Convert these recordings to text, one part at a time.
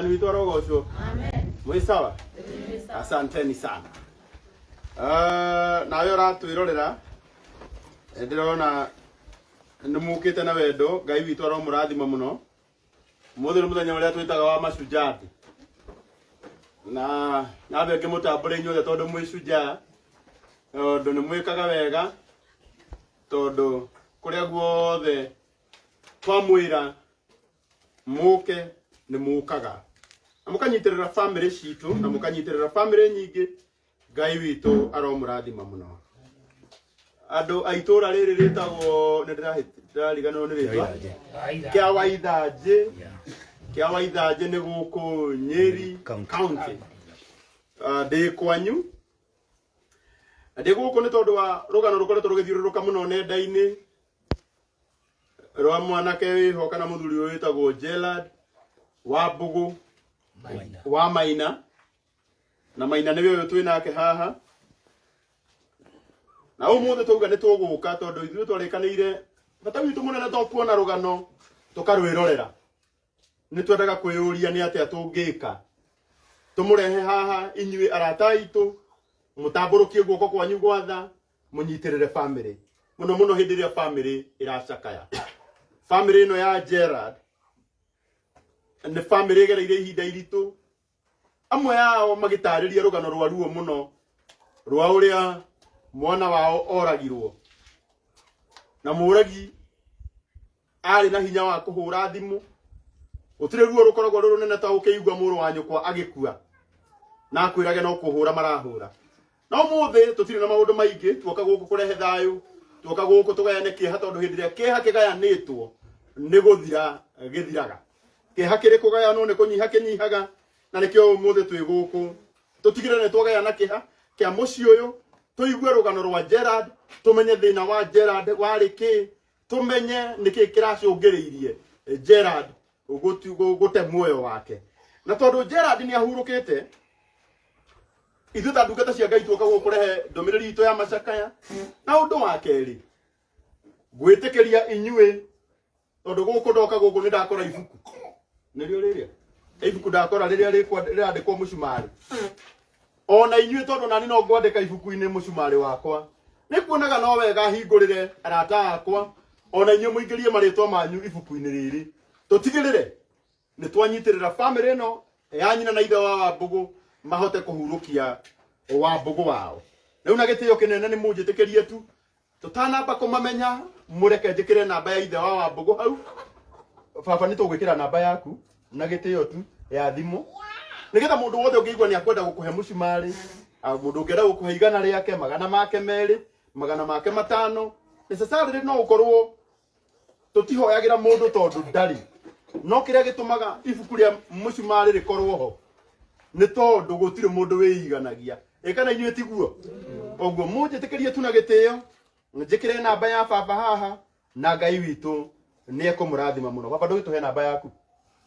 Ni witwa Rogosho. Mwĩ sawa? Asanteni sana. Uh, nawe ũratwĩrorera eh, ndĩrona nĩ mũkĩte na wendo ngai witũ aromũrathima mũno mũthĩ nĩ mũthenya ũrĩa twĩtaga wa macunjati na nambe ngĩmũtambũre inyuothe tondũ mwĩ cunjaa tondũ nĩ mwĩkaga wega tondũ kũrĩa guothe twamwĩra mũke nĩ mũkaga na mũkanyitĩrĩra bamĩrĩ citũ na mũkanyitĩrĩra bamĩrĩ nyingĩ ngai witũ aromũrathima mũno andũ a itũra rĩrĩ rĩtagwo nĩ ndĩrariganĩrwo nĩ rĩtwa kĩa waithanjĩ kĩa waithanjĩ nĩ gũkũ nyeri county Ah, ndĩ kwanyu ndĩ gũkũ nĩ tondũ wa rũgano rũkoretwo rũgĩthiũrũrũka mũno nenda-inĩ rwa mwanake wĩho kana mũthuri ũyũ wĩtagwo Gerald wa Mbũgũ Maina. wa Maina na Maina nĩwe ũyũ twĩ nake haha na ũmũthĩ twauga nĩ tũgũka tondũ ithuĩ twarĩkanĩire bata witũ mũnene to kuona rũgano tũkarwĩrorera nĩ twendaga kwĩyũria nĩ atĩa tũngĩka tũmũrehe haha inyuĩ arata aitũ mũtambũrũkie guoko kwanyu gwatha mũnyitĩrĩre family mũno mũno hĩndĩ ĩrĩa family ĩracakaya family ĩno ya Gerard nĩ family ĩgereire ihinda iritũ amwe yao magĩtarĩria rũgano rwa ruo mũno rwa ũrĩa mwana wao oragirwo na mũragi arĩ na hinya wa kũhũra thimũ gũtirĩ ruo rũkoragwo rũrũ nene ta ũkĩigua mũrũ wa nyũkwa agĩkua na akwĩrage no kũhũra marahũra no mũthĩ tũtirĩ na maũndũ maingĩ tuoka gũkũ kũrehe thayũ tuoka gũkũ tũgayane kĩeha tondũ hĩndĩ ĩrĩa kĩeha kĩgayanĩtwo nĩ gũthira gĩthiraga kĩeha kĩrĩ kũgayanwo nĩ kũnyiha kĩnyihaga na nĩkĩo ũmũthĩ twĩ gũkũ tũtigĩre nĩ twagayana kĩha kĩa mũciĩ ũyũ tũigue rũgano rwa Gerard tũmenye thĩna wa Gerard warĩ kĩ tumenye niki kiracungiriirie Gerard gutu- gu- gute muoyo wake na tondu Gerard ni ahurukite ithuĩ ta ndungata cia ngai tuoka gũkũ kũrehe ndũmĩrĩri itũ ya macakaya na ũndũ wa kerĩ gwĩtĩkĩria inyuĩ tondũ gũkũ ndoka gũkũ nĩ ndakora ibuku nĩrĩo rĩrĩa ibuku ndakora rĩrĩa rĩkwa- rĩrandĩkwo mũcumarĩ o na inyuĩ tondũ nani no ngwandĩka ibuku-inĩ mũcumarĩ wakwa nĩ kuonaga no wega hingũrĩre arata akwa o na inyuĩ mũingĩrie marĩtwa manyu ibuku-inĩ rĩrĩ tũtigĩrĩre nĩ twanyitĩrĩra bamĩrĩ ĩno ya nyina na ithe wa wambũgũ mahote kũhurũkia wambũgũ wao rĩu na gĩtĩo kĩnene nĩ mũnjĩtĩkĩrie tu tũtanamba kũmamenya mũreke njĩkĩre namba ya ithe wa wambũgũ hau baba nĩ tũgwĩkĩra namba yaku na gĩtĩo tu ya thimũ nĩgetha mũndũ wothe ũngĩigua nĩ akwenda gũkũhe mũcumarĩ ah, mũndũ ũngĩenda gũkũhe igana rĩake magana make merĩ magana make matano necessarily no ũkorwo tũtihoyagĩra mũndũ tondũ ndarĩ no kĩrĩa gĩtũmaga ibuku rĩa mũcumarĩ rĩkorwo ho nĩ tondũ gũtirĩ mũndũ wĩiganagia ĩkana inyuĩ tiguo ũguo mũnjĩtĩkĩrie tu na gĩtĩo njĩkĩre namba ya baba haha na ngai witũ nĩ ekũmũrathima mũno baba ndũgĩtũhe namba yaku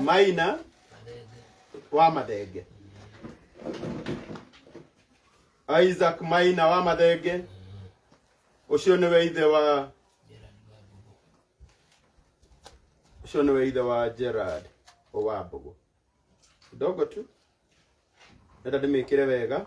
maina wa mathenge isaac maina wa mathenge ucio niwe ithe wa ucio niwe ithe wa gerard owambugu kidogo tu nenda ndimikire wega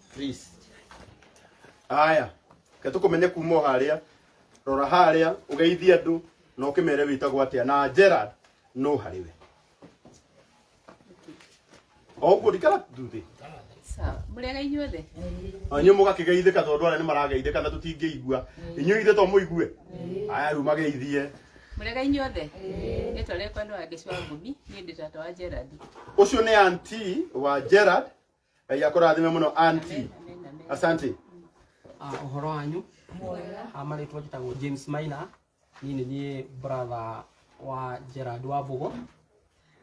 please aya ke tukumenye kuma o haria rora haria ugeithie andu na ukimere witagwo atia na Gerard no hariwe o guo ndikara nduthi Sawa. Mũrĩega inyuothe? anyu mugakigeithika tondu aria ni marageithika na tutingĩigua inyu ithe to muigue aya riu mageithie Mũrĩega inyuothe? Rĩtwa rĩakwa nĩ Wangeci wa Ngũmi, niĩ ndĩ tata wa Gerald. ucio ni anti wa Gerard ngai akũrathime mũno anti asante Ah, ũhoro wanyu Ah, marĩtwa njĩtagwo james maina niĩ nĩ niĩ brother wa gerard wa mbũgũ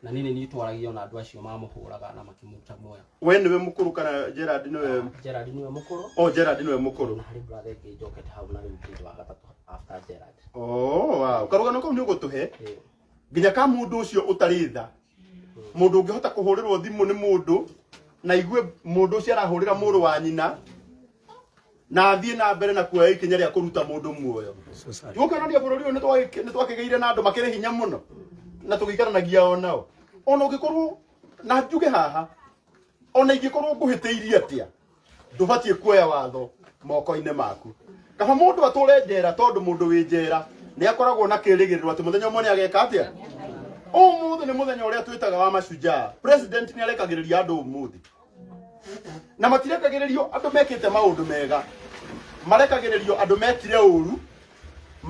na niĩ nĩ niĩ twaragio na andũ acio mamũhũraga na makĩmuta muoyo we nĩwe mũkũrũ kana gerard nĩwe gerard nĩwe mũkũrũ o gerard nĩwe mũkũrũ na harĩ brother ĩngĩ njokete hau na rĩu kĩndũ wa gatatũ after gerard oh wow karũgano kau nĩ ũgũtũhe Eh, nginya ka mundu ucio utari tha mundu ungihota kuhurirwo thimu ni mundu na igue mundu ucio arahurira muru wa nyina na athie na mbere na kuoya ikinya ria kuruta mundu muoyo tukanania bururi uyu ni twakigeire na andu makiri hinya muno na tugikaranagia o nao ona ungikorwo na njuge haha ona ingikorwo nguhitiirie atia ndũbatiĩ kuoya watho moko-inĩ maku kaba mũndũ atũre njera tondũ mũndũ wĩ njera nĩ akoragwo na kĩrĩgĩrĩro atĩ mũthenya ũmwe nĩ ageka atĩa ũmũthĩ nĩ mũthenya ũrĩa twĩtaga wa mashujaa president nĩ arekagĩrĩria andũ ũmũthĩ na matirekagĩrĩrio andũ mekĩte maũndũ mega marekagĩrĩrio andũ mekire ũru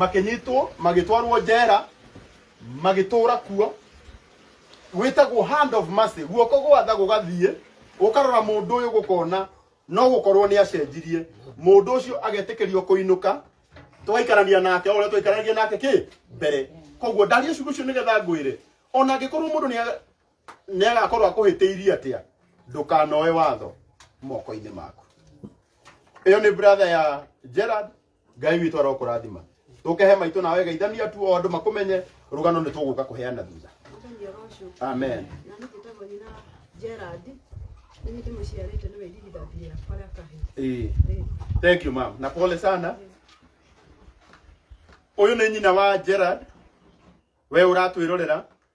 makĩnyitwo magĩtwarwo njera magĩtũra kuo gwĩtagwo hand of mercy guoko gwatha gũgathiĩ gũkarora mũndũ ũyũ gũkona no gũkorwo nĩ acenjirie mũndũ ũcio agetĩkĩrio kũinũka tũgaikarania nake o ũrĩa twaikaranagia nake kĩ mbere koguo ndaria ciugo icio nĩgetha ngwĩre ona angĩkorwo mũndũ nĩa- nĩagakorwo akũhĩtĩirie atĩa ndũkanoe watho moko-inĩ maku ĩyo nĩ brother ya Gerard ngai witå arokå rathima tå kehe maitå nawe geithania tu o andå makå menye rå gano nä tå gå ka kå heana thutha Mũthenya ũcio, amen na nĩ njĩtagwo nyina Gerald, nĩ niĩ ndĩmũciarĩte nĩwe irigithathi rĩakwa rĩa kahĩĩ. Ĩĩ. Ĩĩ. thank you mam na pole sana å yå nä nyina wa gerard we å ratwä rorera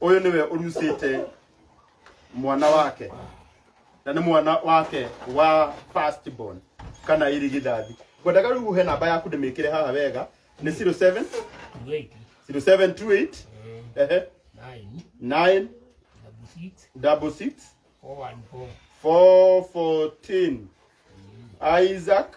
Ũyũ nĩwe ũrucĩte mwana wake na nĩ mwana wake wa first born kana irigithathi ngwendaga rĩu uhe namba yaku ndĩmĩkĩre haha wega nĩ 07 Wait, 0728 ehe nine, 9 double six, 66 four, one, four. 414 Isaac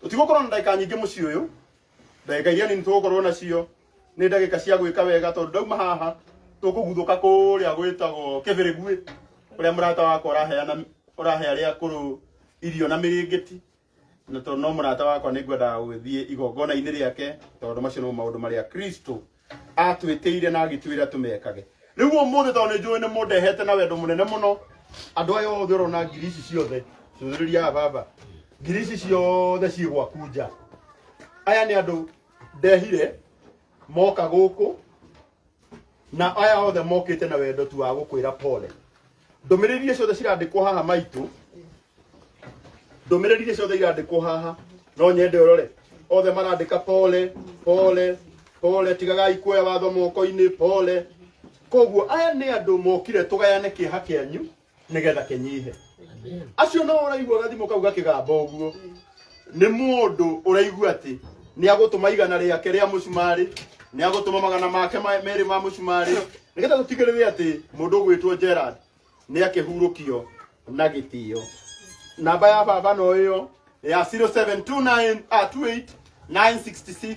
tũtigũkorwo na ndagĩka nyingĩ mũciĩ ũyũ ndagĩka iria nini tũgũkorwo nacio nĩ ndagĩka cia gwĩka wega tondũ ndauma haha tũkũguthũka kũrĩa gwĩtagwo kĩbĩrĩguĩ kũrĩa mũrata wakwa ũraheana ũrahe arĩa akũrũ irio na mĩrĩngĩti na tondũ no mũrata wakwa nĩ ngwendaga gũgĩthiĩ igongona-inĩ rĩake tondũ macio nĩmo maũndũ marĩa kristo atwĩtĩire na agĩtwĩra tũmekage rĩu ũmũthĩ tondũ nĩ njũĩ nĩ mũndehete na wendo mũnene mũno andũ aya othe ũrona ngiri ici ciothe cũthĩrĩria baba ngiri ici ciothe ciĩ gwaku nja aya nĩ andũ ndehire moka gũkũ na aya othe mokĩte na wendo tu wa gũkwĩra pole ndũmĩrĩri iria ciothe cirandĩkwo haha maitũ ndũmĩrĩri iria ciothe irandĩkwo haha no nyende ũrore othe marandĩka pole pole pole tigagai kuoya watho moko-inĩ pole koguo aya nĩ andũ mokire tũgayane kĩeha kĩanyu nĩgetha kĩnyihe acio no ũraigua gathimo kau gakĩgamba ũguo nĩ mũndũ ũraigua atĩ nĩ agũtũma igana rĩake rĩa mũcumarĩ nĩ agũtũma magana make ma- merĩ ma mũcumarĩ nĩgetha tũtigĩrĩre atĩ mũndũ ũgwĩtwo Gerald nĩ akĩhurũkio na gĩtĩo namba ya baba no ĩyo ya 0729 ah, 28 966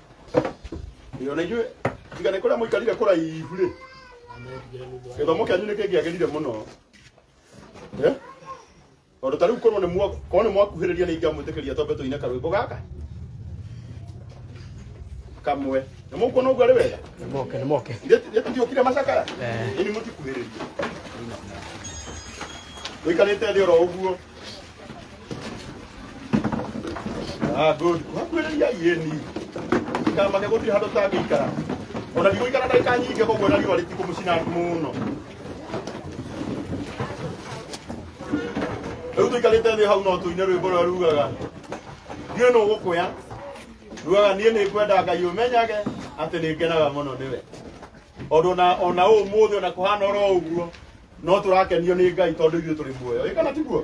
Ĩyo na ithuĩ tiga nĩ kũrĩa mũikarire kũraihu rĩ gĩthomo kĩanyu nĩ kĩngĩagĩrire mũno Eh? tondũ ta rĩu korwo nĩ mwa- korwo nĩ mwakuhĩrĩria nĩ ingĩamwĩtĩkĩria twambe tũine karwĩmbo gaka kamwe nĩ mũkuona ũguo arĩ wega Nĩmoke, nĩmoke. ndiũkire macakaya Eh. ini mũtikuhĩrĩria mũikarĩte thĩ oro ũguo Ah, good. Kuhakuhĩrĩria yeni. Ndikamake gũtirĩ handũ tangĩikara. Ona ndigũikara ndagĩka nyingĩ koguo na riũa rĩtikũmũcina mũno. Rĩu tũikarĩte thĩ hau no tũine rwĩmbo rũrĩa rugaga. Ndiũĩ nũ ũgũkũya. Rugaga niĩ nĩ ngwenda Ngai ũmenyage atĩ nĩ ngenaga mũno nĩwe. Tondũ ona ona ũmũthĩ ona kũhana oro ũguo no tũrakenio nĩ Ngai tondũ ithuĩ tũrĩ muoyo. Ĩ kana tiguo?